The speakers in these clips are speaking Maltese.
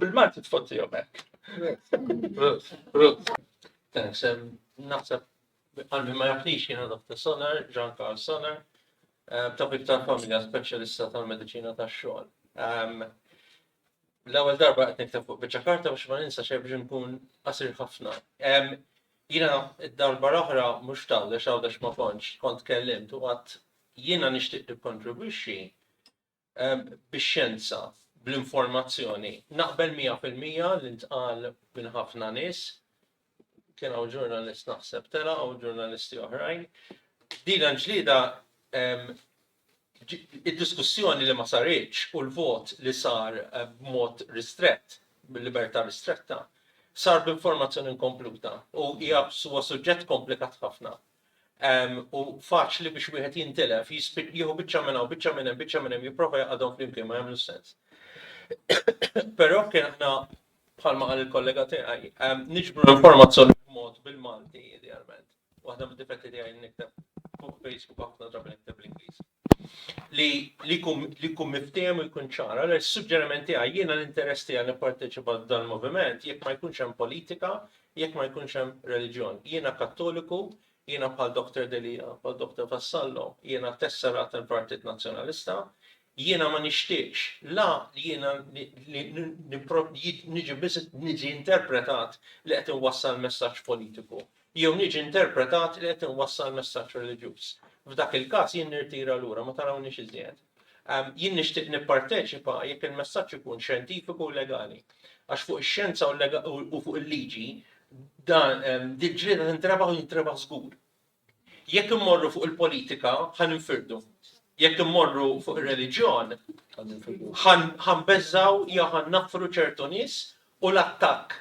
Bil-Malti tfottihom hekk. Sem naħseb qalbi ma jaħlix jiena Dr. Sonar, Jean Carl Sonar, eh, tabib tal-familja speċjalista tal-mediċina tax-xogħol. Ehm, l-ewwel darba qed nikteb fuq biċċa karta biex ma ninsa xejn biex nkun qasir ħafna. Ehm, jiena d-darba l-oħra mhux tawdex għawdex ma kontx kont kellimt u qatt jiena nixtieq nikkontribwixxi bix-xjenza, bl-informazzjoni. Naqbel mija fil-mija li ntqal minn ħafna nies, kien hawn ġurnalist naħseb tela' u ġurnalisti oħrajn. Din il-ġlieda id-diskussjoni li ma saritx u l-vot li sar b'mod ristrett, b'libertà ristretta, sar b'informazzjoni inkompluta u hija huwa suġġett komplikat ħafna. Hemm u faċli biex wieħed jintilef, jispiċ, jieħu biċċa minn hawn, biċċa minn hemm, biċċa minn hemm, jipprova jaqgħadhom flimkien ma jagħmlux sens. Però kien aħna bħalma qal il-kollega tiegħi, niġbru l-informazzjoni b'mod bil-Malti idealment. Waħda mid-difetti tiegħi nikteb fuq Facebook ħafna drabi nikteb l-Ingliż. li li jkun li jkun miftiehem u jkun ċar. Allora is-suġġeriment tiegħi jiena l-interess tiegħi nipparteċipa f'dan moviment jekk ma jkunx hemm politika, jekk ma jkunx hemm reliġjon. Jiena Kattoliku, jiena bħal Dr. Delia, bħal Dr. Vassallo, jiena tesserat tal-Partit Nazzjonalista, jiena ma nixtieqx la li jiena niġi biss niġi interpretat li qed inwassal messaġġ politiku jew niġi interpretat li qed inwassal messaġġ reliġjuż. F'dak il-każ jien nirtira lura, ma tarawniex iżjed. Jien nixtieq nipparteċipa jekk il-messaġġ ikun xjentifiku u legali. Għax fuq ix-xjenza u fuq il-liġi din ġlieda tintrebaħ u tintrebaħ żgur. Jekk immorru fuq il-politika ħa ninfirdu. Jekk immorru fuq ir-reliġjon ħa nbeżżgħu jew ħa naffru ċertu nies u l-attakk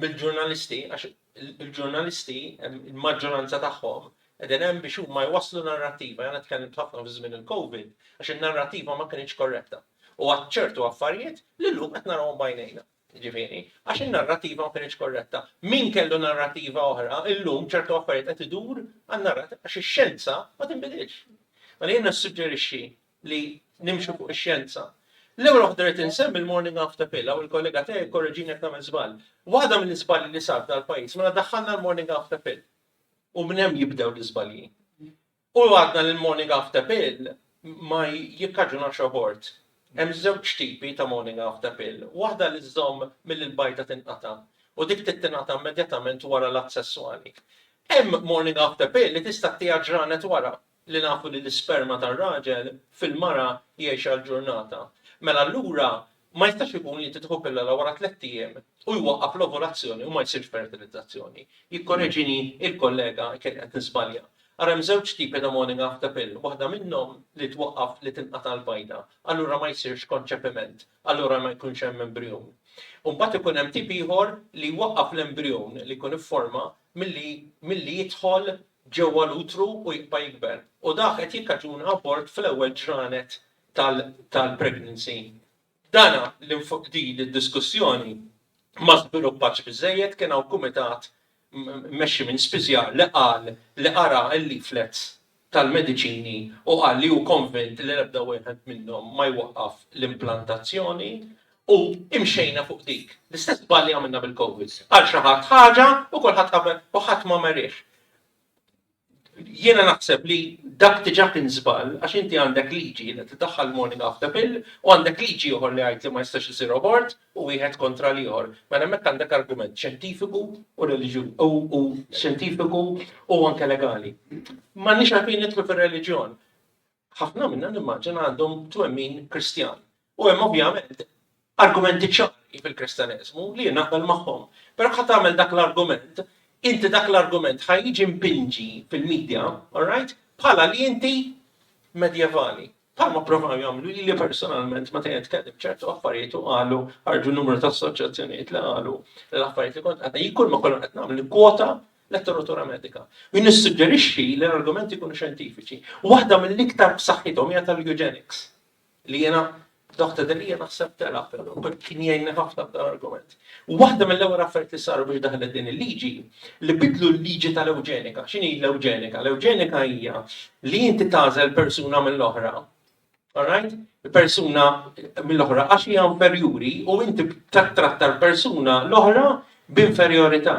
mill-ġurnalisti għax Il-ġurnalisti, il-maġġoranza tagħhom, qegħdin hemm biex huma jwasslu narrattiva, jiena tkellimt ħafna fi żmien il-Covid għax in-narrattiva ma kinitx korretta. U għadt ċertu affarijiet li llum qed narahom b'għajnejna. Jiġifieri, għax in-narrattiva ma kinitx korretta. Min kellu narrattiva oħra, illum ċertu affarijiet qed idur għan-narrattiva għax ix-xjenza ma tinbidilx. Mela jien nissuġġerixxi li nimxu fuq ix-xjenza. L-ewwel waħda rrid insemmi l-morning after pill, hawn il-kollega tiegħi jkorreġini jekk nagħmel żball. Waħda mill-iżbalji li sar f'dal-pajjiż mela daħħalna l-morning after pill. U minn hemm jibdew l-iżbalji. U għadna li l-morning after pill ma jikkaġunax abort. Hemm żewġ tipi ta' morning after pill, waħda li żżomm milli l-bajda tinqata' u dik trid tingħata immedjatament wara l-att sesswali. Hemm morning after pill li tista' ttiha ġranet wara, li nafu li l-isperma tar-raġel fil-mara jgħix għal ġurnata, mela allura ma jistax ikun li inti tieħu pillola wara tlett ijiem u jwaqqaf l-ovulazzjoni u ma jsirx fertilizzazzjoni. Jikkoreġini il-kollega jekk qed niżbalja. Ara hemm żewġ tipi ta' morning after pill, waħda minnhom li twaqqaf li tinqata' l-bajda, allura ma jsirx konċepiment, allura ma jkunx hemm embrijun. U mbagħad ikun hemm tip ieħor li jwaqqaf l-embrijun li jkun ifforma milli milli jidħol ġewwa l-utru u jibqa' jikber u dak qed jikkaġuna abort fl-ewwel ġranet tal-pregnancy. Dan din id-diskussjoni ma żviluppatx biżżejjed, kien hawn kumitat mmexxi minn spiżjar li qal li qara l-leaflets tal-mediċini u qal li hu konvint li l-ebda wieħed minnhom ma jwaqqaf l-implantazzjoni U imxejna fuq dik. L-istess żbalji għamilna bil-Covid. Qal xi ħadd ħaġa u kulħadd qabel u ħadd ma merih. Jiena naħseb li dak diġà kien żball għax inti għandek liġi li tiddaħħal morning after pill u għandek liġi ieħor li jgħid li ma jistax isir abort u wieħed kontra l-ieħor. Mela hemmhekk għandek argument xjentifiku u reliġju u u xjentifiku u anke legali. M'għandniex għalfejn nidħlu fir-reliġjon. Ħafna minna nimmaġina għandhom twemmin Kristjan. U hemm ovvjament argumenti ċari fil-Kristjaneżmu li jien naqbel magħhom. Però ħadd tagħmel dak l-argument, inti dak l-argument ħa jiġi mpinġi fil-medja, all right, bħala li inti medjevali. Palma provaw jagħmlu li li personalment ma tejet kellim ċertu affarijiet u qalu ħarġu numru ta' assoċjazzjonijiet li qalu l-affarijiet li kont qed jikul ma kollha qed nagħmlu kwota letteratura medika. Min issuġġerixxi li l-argumenti jkunu xjentifiċi. Waħda mill-iktar b'saħħithom hija tal-eugenics, li jiena Dr. Delia naħseb tela, kien jgħinni ħafna b'dan argument. Waħda mill-ewwel affarijiet li saru biex daħlet din il-liġi li bidlu l-liġi tal-ewġenika. X'inhi l-ewġenika? L-ewġenika hija li inti tagħżel persuna mill-oħra Alright? Persuna mill-oħra għax hija inferjuri u inti tattratta l-persuna l-oħra b'inferjorità.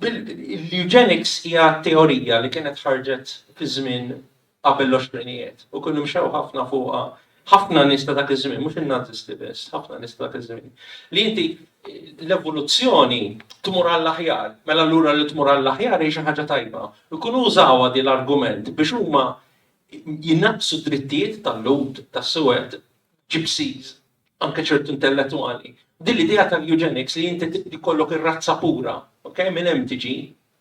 L-eugenics hija teorija li kienet ħarġet fi żmien qabel l-oxrinijiet u kienu mxew ħafna fuqha ħafna nies ta' dak iż-żmien, mhux in-Nazisti biss, ħafna nies ta' dak iż-żmien. Li inti l-evoluzzjoni tmur għall-aħjar, mela allura li tmur għall-aħjar hi xi ħaġa tajba. Ikunu użawha din l-argument biex huma jnaqqsu d-drittijiet tal-Lhud tas-Suwed, Gypsies, anke ċertu intellettwali. Din l-idea tal-eugenics li inti jkollok ir-razza pura, ok, minn hemm tiġi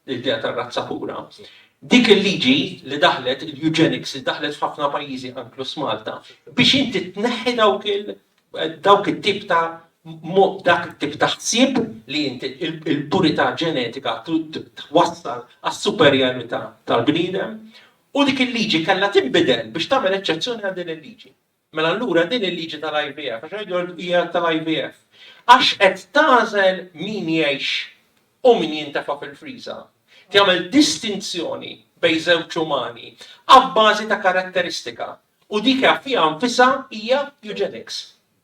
l-idea tar-razza pura. Dik il-liġi li daħlet, il-eugenics li daħlet f'ħafna pajjiżi anklus Malta, biex inti tneħħi dawk il- dawk it-tip ta' dak it-tip ta' ħsieb li inti il-purità ġenetika twassal għas-superjarità tal-bniedem U dik il-liġi kellha tinbidel biex tagħmel eċċezzjoni għal din il-liġi. Mela allura din il-liġi tal-IVF, għax qed jgħidu hija tal-IVF, għax qed tagħżel min jgħix u min jintefa' fil-friża, tagħmel distinzjoni bejn żewġ umani abbażi ta' karatteristika U dik fiha nfisha hija eugenics.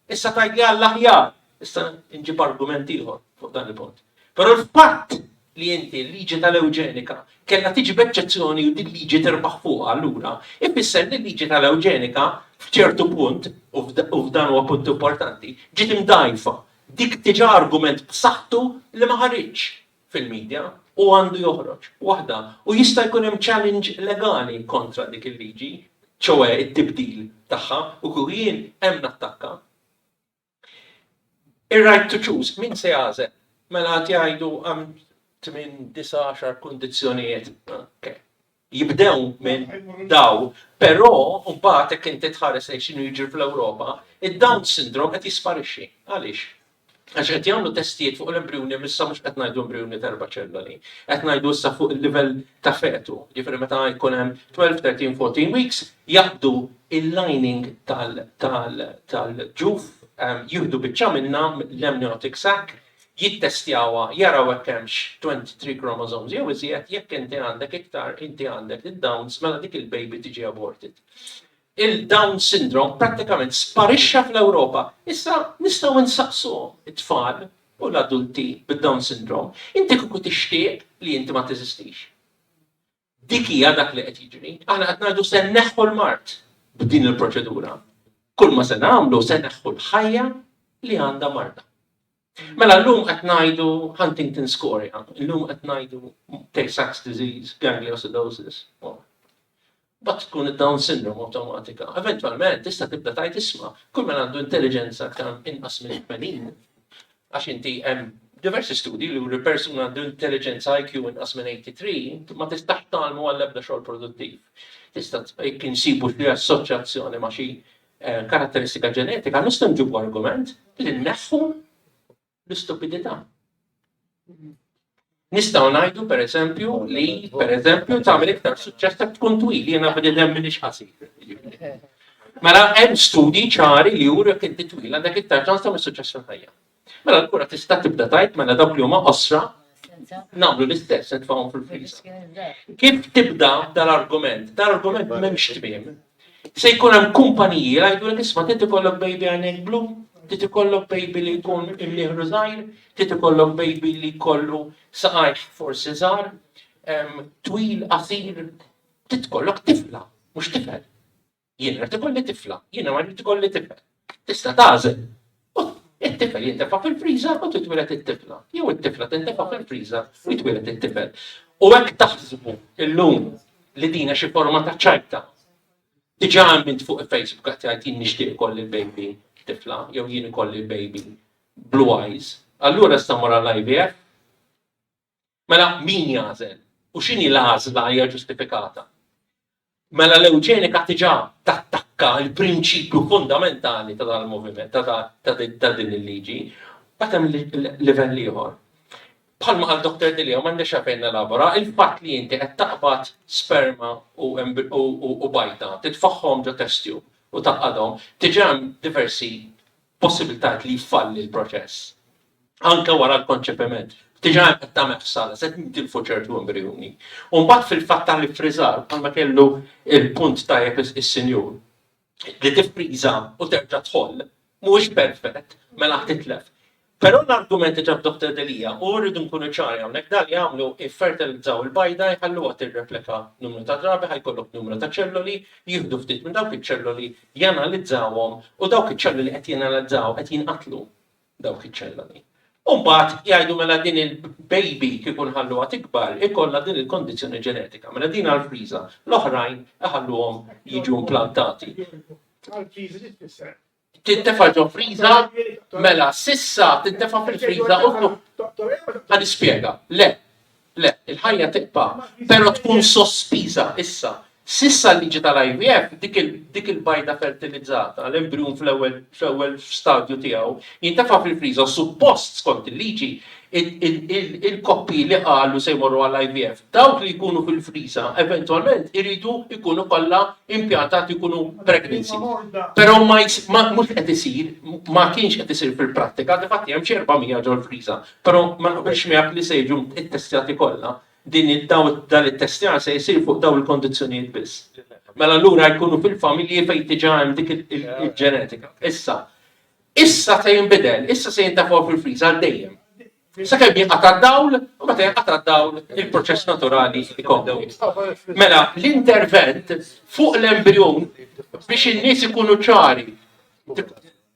Issa tgħid li għall-aħjar, issa nġib argument ieħor fuq dan il-punt. Però l-fatt li inti l-liġi tal-eugenika kellha tiġi b'eċċezzjoni u din liġi tirbaħ fuqha allura, ifisser li l-liġi tal-eugenika f'ċertu punt, u f'dan huwa punt importanti, ġiet imdgħajfa. Dik diġà argument b'saħħtu li ma ħariġx. fil-midja u għandu joħroġ waħda u jista' jkun hemm challenge legali kontra dik il-liġi, ċoe t-tibdil tagħha u kieku jien hemm nattakka. Ir-right to choose, min se jagħżel? Mela qed jgħidu hemm tmien, disa', għaxar kundizzjonijiet. Okay. jibdew minn dawl, però mbagħad jekk inti tħares lejn x'inhu jiġri fl-Ewropa, id-Down syndrome qed jisparixxi. Għaliex? Għax qed jagħmlu testijiet fuq l-embrijuni, issa mhux qed ngħidu embrijuni ta' erba' ċelloli, qed ngħidu issa fuq il-livell ta' fetu, jiġifieri meta jkun hemm 12, 13, 14 weeks, jaqbdu il-lining tal-ġuf, jieħdu biċċa minnha, l-amniotic sac, jittestjawha jaraw hekk hemmx 23 chromosomes jew iżjed, jekk inti għandek iktar inti għandek id-Downs mela dik il-baby tiġi aborted. Il-Down syndrome prattikament sparixxa fl-Ewropa. Issa nistgħu nsaqsuhom it-tfal u l-adulti bid-Down syndrome, inti kieku tixtieq li inti ma teżistix? Dik hija dak li qed jiġri. Aħna qed ngħidu se nneħħu l-mard b'din il-proċedura. Kull ma se nagħmlu se neħħu l-ħajja li għandha marda. Mela llum qed ngħidu Huntington scoria, llum qed ngħidu Tay-Sachs disease, gangliosidosis. Bat tkun id-Down syndrome automatika. Eventualment tista' tibda tajt isma' kull ma għandu intelligenza aktar inqas minn 80 Għax inti hemm diversi studji li juru li persuna għandu intelliġenza IQ inqas minn 83 ma tistax tgħallmu għall-ebda xogħol produttiv. Tista' jekk insibu xi assoċjazzjoni ma' xi eh, karatteristika ġenetika, nistgħu nġibu argument li nneħħu l-istupidità. Nistgħu ngħidu pereżempju li pereżempju tagħmel iktar suċċess ta' tkun twil jiena bidi hemm minix qasir. Mela hemm studji ċari li juru jekk inti twil għandek iktar ċans tagħmel suċċess fil-ħajja. Mela l-kura tista' tibda tajt mela dawk li huma qosra nagħmlu l-istess nitfgħu fil-friż. Kif tibda dal-argument? Dal-argument m'hemmx tmiem. Se jkun hemm kumpaniji li jgħidulek isma' trid ikollok baby għajnejh blu, trid ikollok baby li jkun imnieħru żgħir, trid ikollok baby li jkollu saqajh forsi żgħar, twil, qasir, trid ikollok tifla, mhux tifel. Jien irid ikolli tifla, jiena ma rrid ikolli tifel. Tista' tagħżel. U t-tifel jintefa' fil-friżer u titwieled it-tifla, jew it-tifla tintefa' fil-friżer u jitwieled it-tifel. U hekk taħsbu llum li din hi xi forma ta' ċajta. Diġà hemm int fuq il-Facebook qed jgħid jien nixtieq ikolli l-baby tifla jew jien ikolli l-baby blue eyes. Allura issa mur għall-IVF. Mela min jagħżel? U x'inhi l-għażla hija ġustifikata? Mela l-ewġenika diġà tattakka l-prinċipju fundamentali ta' dan il-moviment, ta' din il-liġi, mbagħad hemm livell ieħor. Bħalma qal Dr. Delia, m'għandix għalfejn nelabora, il-fatt li inti qed taqbad sperma u bajta, titfagħhom ġo test tube u tgħaqqadhom, diġà hemm diversi possibilitajiet li jfalli l-proċess anke wara l-konċepiment. Diġà hemm qed tagħmel ħsara, se nitilfu ċertu embrjuni. U mbagħad fil-fatt tal-iffriżar bħalma kellu il-punt tajjeb is-sinjur li tiffriża u terġa' tħoll mhuwiex perfett mela titlef. Però l-argument li ġab Dr. Delija u rridu nkunu ċari hawnhekk dan li jagħmlu iffertilizzaw il-bajda jħalluha tirreplika numru ta' drabi ħajkollok numru ta' ċelloli jieħdu ftit minn dawk iċ-ċelloli janalizzawhom u dawk iċ-ċelloli qed janalizzaw qed jinqatlu dawk iċ-ċelloli. U mbagħad jgħidu mela din il-baby kieku nħalluha tikbar ikollha din il-kondizzjoni ġenetika. Mela din għall-friża, l-oħrajn iħalluhom jiġu implantati. Għall-friża xi tfisser? Tintefa' ġo friża, mela sissa tintefa' fil-friża u ħanispjega. Le, Le, il-ħajja tibqa', però tkun sospiża issa. S'issa l-liġi tal-IVF, dik il-bajda fertilizzata, l-embrijun fl-ewwel stadju tiegħu, jintefa' fil-friża u suppost, skont il-liġi, il-koppji li qalu se jmorru għall-IVF, dawk li jkunu fil-friża eventwalment iridu jkunu kollha impjantati jkunu pregnancy. Però mhux qed isir, ma kienx qed isir fil-prattika, difatti hemm xi 400 ġol-friża. Però ma naqbilx miegħek li se jiġu ttestjati kollha. Din dan it-testjar se jsir fuq dawn il-kondizzjonijiet biss. Mela allura jkunu fil-familji fejn diġà hemm dik il-ġenetika. Issa, issa se jinbidel, issa se jintefgħu fil-friż għal dejjem. Sakemm jinqata' d-dawl, u meta jinqata' d-dawl il-proċess naturali jkompli. Mela, l-intervent fuq l-embrijun biex in-nies ikunu ċari,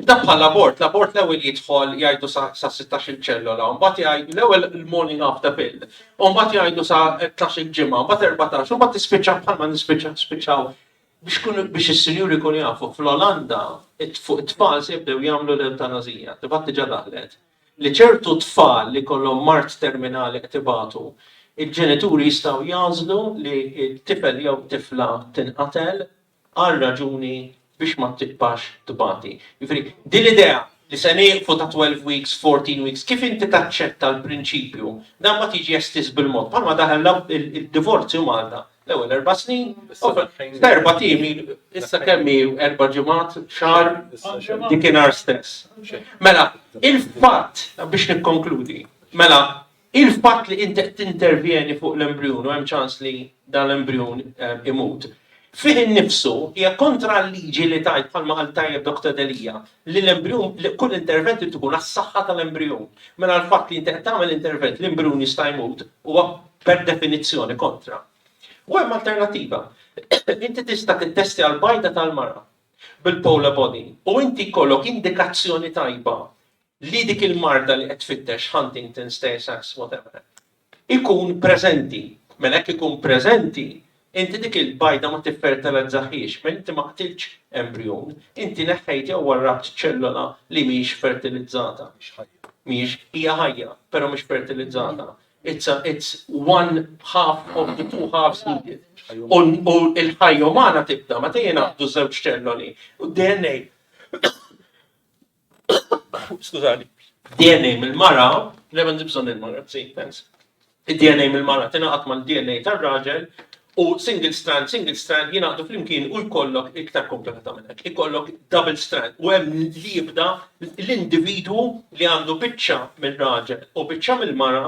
Dak bħall-abort, l-abort l-ewwel jidħol jgħidu sa sa sittax-il ċellola, u mbagħad jgħid l-ewwel il-morning of the pill, u mbagħad jgħidu sa tnax-il ġimgħa, u mbagħad erbatax, u mbagħad tispiċċa bħalma nispiċċa spiċċaw biex kun biex is-sinjuri jkunu jafu fl-Olanda it- fuq it-tfal se jibdew jagħmlu l-eutanazija, tifgħat diġà daħlet, li ċertu tfal li jkollhom mard terminali qed ibatu, il-ġenituri jistgħu jagħżlu li t-tifel jew t-tifla tinqatel, għal raġuni biex ma tibqax tbati. Jiġifieri, din l-idea li se nieqfu ta' twelve weeks, fourteen weeks, kif inti taċċetta l-prinċipju, dan ma tiġi estiż bil-mod. Bħalma daħal l-divorzju Malta, l-ewwel erba' snin, f'erba' tim. Issa kemm hi erba' ġimgħat, xahar, dikinhar stess. Mela, il-fatt, biex nikkonkludi, mela, Il-fatt li inti qed tintervjeni fuq l-embrijun u hemm ċans li dan l-embrijun imut, fih innifsu hija kontra l-liġi li tgħid, bħalma qal tajjeb Doctor Delia, li l-embrijun, li kull intervent irid ikun għas-saħħa tal-embrijun. Mela l-fatt li inti qed tagħmel intervent li embrijun jista' jmut huwa per definizzjoni kontra. U hemm alternattiva. Inti tista' tittestja l-bajda tal-mara bil-polar body u inti jkollok indikazzjoni tajba li dik il-marda li qed tfittex Huntington's Tay Sachs whatever ikun preżenti. Mela jekk ikun preżenti, inti dik il-bajda ma tiffertilizzahiex, mela inti ma qtiltx embrijun, inti neħħejt jew warrabt ċellola li mhijiex fertilizzata, mhijiex, hija ħajja, però mhix fertilizzata, it's a, it's one half of the two halves needed. U l-ħajja umana tibda meta jingħaqdu żewġ ċelloli, u d-DNA Skużani. DNA mill-mara, le m'għandi bżonn il-mara, si, thanks. Id-DNA mill-mara tingħaqad mal-DNA tar-raġel u single strand, single strand jingħaqdu flimkien u jkollok iktar komplikata minn hekk. Ikollok double strand u hemm li jibda l-individwu li għandu biċċa mir-raġel u biċċa mill-mara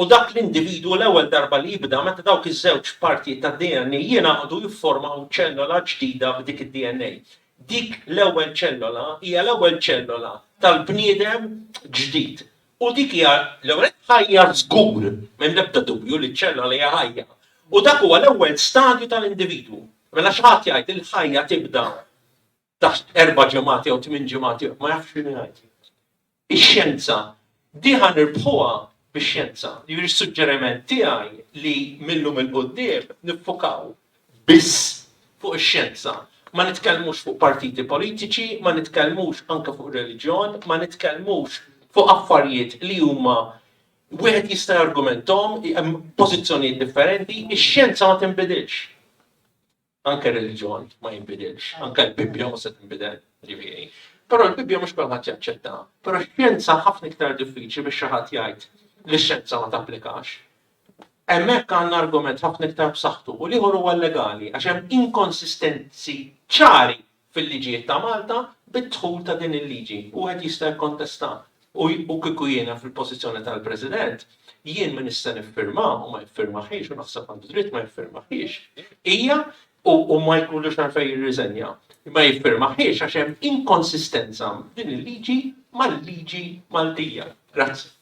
U dak l-individwu l-ewwel darba li jibda meta dawk iż-żewġ partijiet tad-DNA jingħaqdu jifformaw ċellola ġdida b'dik id-DNA. Dik l-ewwel ċellola hija l-ewwel ċellola tal-bniedem ġdid. U dik hija, l-ewwel nett, ħajja żgur, m'hemm l-ebda dubju li ċ-ċellola hija ħajja. U dak huwa l-ewwel stadju tal-individwu. Mela xi ħadd jgħid li l-ħajja tibda taħt erba' ġimgħat jew tmien ġimgħat jew ma jafx x'inhu jgħid. Ix-xjenza diħa nirbħuha bix-xjenza. Jiġri suġġeriment tiegħi li minnhom il-qudiem niffukaw biss fuq ix-xjenza. Ma nitkellmux fuq partiti politiċi, ma nitkellmux anke fuq reliġjon, ma nitkellmux fuq affarijiet li huma wieħed jista' jargumentom hemm pożizzjonijiet differenti, ix-xjenza ma tinbidilx. Anke r-reliġjon ma jinbidilx, anke l-Bibbja mhux se tinbidel, jiġifieri. Però l-Bibbja mhux kulħadd jaċċettaha. Però x-xjenza ħafna iktar diffiċli biex xi ħadd jgħid li x-xjenza ma tapplikax. Hemmhekk għandna argument ħafna iktar b'saħħtu u l-ieħor huwa l-legali għax hemm inkonsistenzi ċari fil-liġijiet ta' Malta bid-dħul ta' din il-liġi. Wieħed jista' jikkontesta u kieku jiena fil-pożizzjoni tal-President, jien min issa niffirma u ma jiffirmahiex u naħseb għandu dritt ma jiffirmahiex, hija u ma jkollux għalfejn jirriżenja, ma jiffirmahiex għax hemm inkonsistenza f'din il-liġi mal-liġi Maltija. Grazzi.